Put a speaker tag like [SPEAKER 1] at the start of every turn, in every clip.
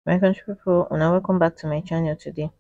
[SPEAKER 1] my country people una welcome back to my channel today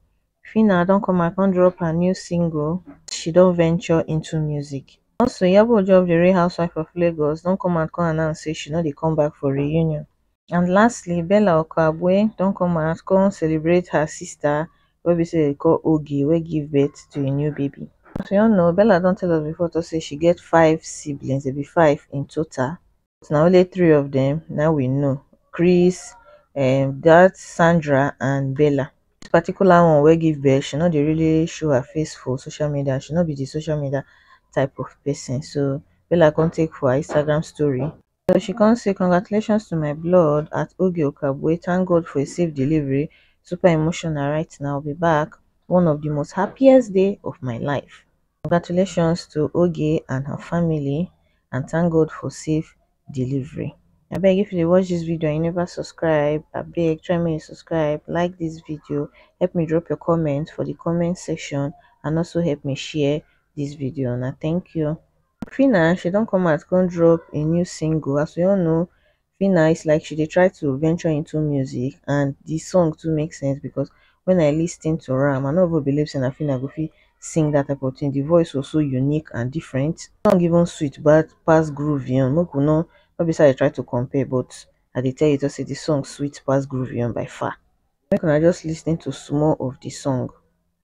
[SPEAKER 1] Phyna don come out come drop her new single she don venture into music also Iyabo Ojo of the Real Housewife of Lagos don come out come announce say she no dey come back for reunion and lastly bella okagbue don come out come celebrate her sister wey be say dem dey call oge wey give birth to a new baby as we all know bella don tell us before talk say she get five siblings dem be five in total but na only three of dem na im we know chris um dat sandra and bella dis particular one wey give birth she no dey really show her face for social media she no be de social media type of person so bella come take for her instagram story so she come say congratulations to my blood at oge okagbue thank god for a safe delivery super emotional right now be back one of di most happiest day of my life congratulations to oge and her family and thank god for safe delivery abeg if you dey watch dis video and you never subscribe abeg try make you subscribe like dis video help me drop your comment for di comment section and also help me share dis video una thank you phyna she don come out come drop im new single as we all know phyna is like she dey try to venture into music and di song too make sense because wen I lis ten to am I no even believe say na phyna go fit sing dat type of thing di voice was so unique and different di song even sweet pass groovy own make we no no be say I dey try to compare but I dey tell you just say di song sweet pass groovy own by far make una just lis ten to small of di song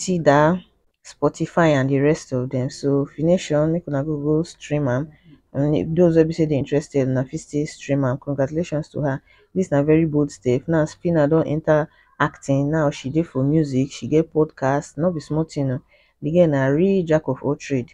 [SPEAKER 1] tidal spotify and di rest of dem so if you no sure make una go go stream am and those wey be say dey interested una fit still stream am congratulations to her dis na very bold step now phyna don enta acting now she dey for music she get podcast no be small tin oh di girl na real jack of all trade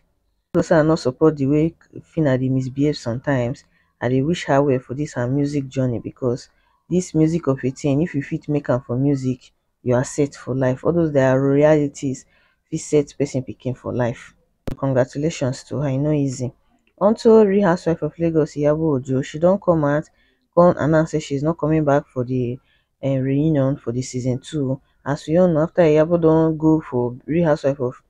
[SPEAKER 1] no say i no support di way phyna dey misbehave sometimes i dey wish her well for dis her music journey because dis music of a tin if you fit make am for music you are set for life. All those their realities fit set person picking for life. So congratulations to her, e no easy. Unto Real Housewife of Lagos, Iyabo Ojo, she don't come out, come announce that she's not coming back for the uh, reunion for the season two. As we all know, after Iyabo don't go for Real Housewife of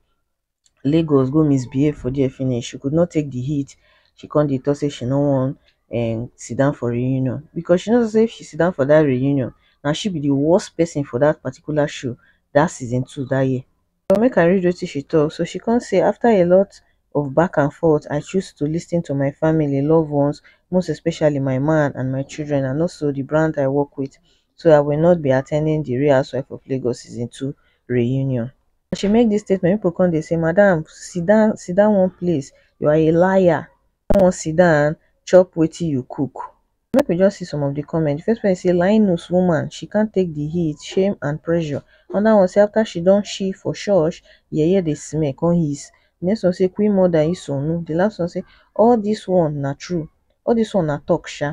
[SPEAKER 1] Lagos go misbehave for there finish, she could not take the heat, she come dey talk say she no wan um sit down for reunion because she knows say if she sit down for that reunion, now she be the worst person for that particular show that season two that year. So make I read wetin she talk. So she come say after a lot of back and forth, I choose to listen to my family, loved ones, most especially my man and my children and also the brand I work with. So I will not be attending the Real Housewife of Lagos season two reunion. as she make dis statement pipo come dey say madam siddon siddon one place you are a liar you no wan siddon chop wetin you cook make we just see some of di comment di first person say linus woman she can't take di heat shame and pressure anoda one say afta she don shi for church yeye dey smell come hiss di next one say queen mother isonu di last one say all dis one na true all dis one na talk sha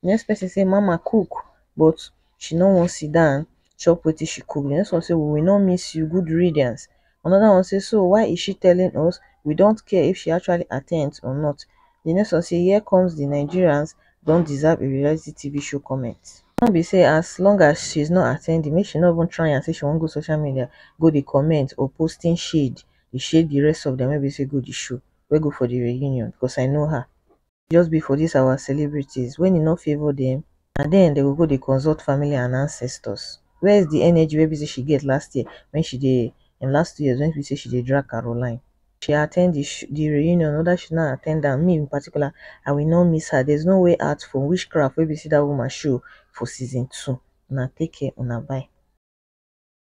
[SPEAKER 1] di next person say mama cook but she no wan siddon. chop wetin she cook the next one say we will not miss you good riddance another one say so why is she telling us we don't care if she actually attends or not the next one say here comes the nigerians don't deserve a reality tv show comment come be say as long as she's not attending make she no even try and say she won't go social media go the comment or posting shade the shade the rest of them wey be say go the show wey go for the reunion because i know her just be for this our celebrities when e no favour them na then dem go go dey consult family and ancestors where is the energy wey be say she get last year when she dey in last two years when be say she dey drag Caroline she attend the sh the reunion whether she no attend am me in particular I will not miss her there's no way out for witchcraft wey be say that woman show for season two una take care una bye.